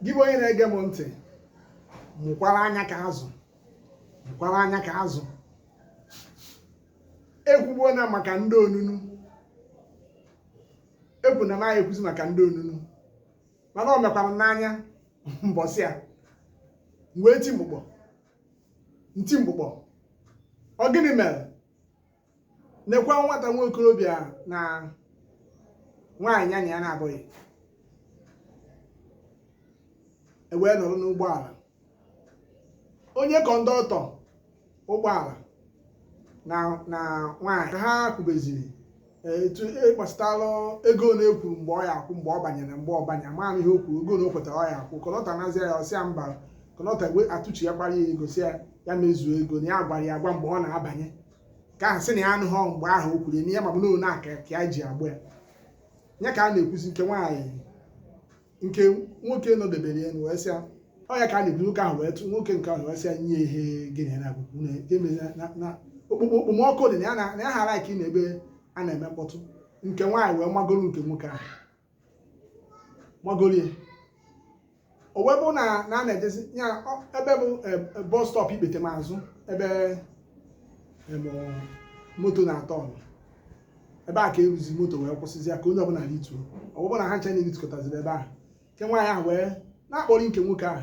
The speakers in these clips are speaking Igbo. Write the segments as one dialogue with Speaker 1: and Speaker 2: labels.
Speaker 1: gị bụ onye na-ege m ntị mụkwara anya ka azụ mụkwara anya ka azụ ekwugbuo na maka ndị onunu ekwu na a naghị ekwuzi maka ndị onunu mana o mekwara n'anya mbọsị a wee ti mgbụgbọ nti mgbụgbọ ọ gịnị mere nekwa nwata nwa okorobịa na nwaanyị ya na ya na-abụghị ewee nọrọ n'ụgbọala onye kọndọktọ ụgbọala na na nwaanyị ha kwubeziri eh, etu gbasịtalụ e ego na e kwuru mgbe ọ ya akwụ mgbe ọ banyere mgbe ọ banye ma ihe o kwuru ego na o kwetara ọ ya akwụ kọndọktọ nazia ya ọ sịa mba kọndọktọ atụchi ya gbara ya ego sị ya ya mezuo ego na ya gwara ya agwa mgbe ọ na-abanye nke ahụ sị na ya anụghị mgbe ahụ o kwuru n'ihe ya ma bụ na aka ka ya ji aba ya ya ka a na-ekwuzi nke nwaanyị nke nwoke nọdebere ya wee sịa ọ ya ka a na-ekwu nwoke ahụ wee tụ nwoke nke ahụ wee sịa nye ihe gịnị na akwụkwọ na-emezi na okpomọkụ dị na ya na ya ha like na ebe a na-eme mkpọtụ nke nwaanyị wee magoro nke nwoke ahụ magolie o wee bụ na na a na-ejezi ya ọ- ebe bụ eh, eh, bus stop ikpetemazụ ebe em, eh, moto na-atọ ọnụ ebe a ka e ruzi moto wee kwụsịzi ya ka onye ọbụla rituo o wee bụ na ha ncha na-eritukọtaziri ebe ahụ nke nwaanyị ahụ wee na-akpọrị nke nwoke ahụ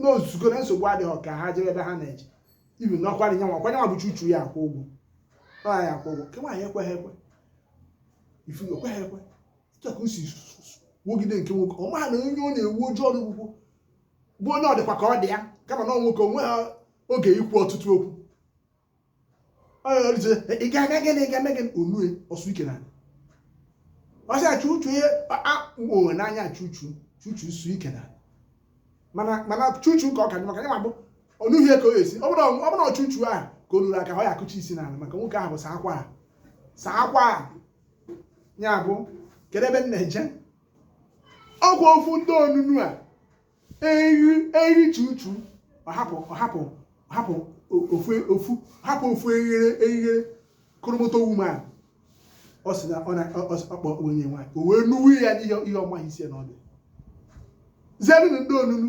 Speaker 1: na o zugo na nsogbu adịghị ka ha jebe ebe ha na-eje ibi n'ọkwara nya nwa ọkwara nya nwa bụ chuchu ya akwụ ụgwọ ọ ya akwụ ụgwọ nke nwaanyị ekweghị ekwe ifu ekweghị ekwe etu a ka o si wogide nke nwoke ọ maha na onye ọ na-ewu ojii ọrụ ugwu bụ onye ọ dịkwa ka ọ dị ya kama na ọ nwoke enweha oge ikwu ọtụtụ okwu ị ga-aga gịnị ị ga-eme gịnị o nue, ọ sụ ike n'ana ọ sịa chuchu ihe akpụo n'anya chuchu chuchu sụ ike n'ana mana chuchu ka ọ ka dị maka ya ma bụ ọnụhie ka ọ ga-esi ọ bụrụ na chuchu ahụ ka o nuru aka ọ ya akụchi isi n'ala maka nwoke ahụ bụ saa akwa saa akwa ya bụ kedu ebe m na-eje ọkwa ofu ndị onunu a eri eri chuchu ọhapụ ọhapụ ọhapụ ofu ofu hapụ ofu eghere eghere koromoto woman ọ sị na ọ na-akpọ onye nwaanyị o wee nuwe ya n'ihe ihe ọ maha isi ya na ọdụ zerenụ ndị onunu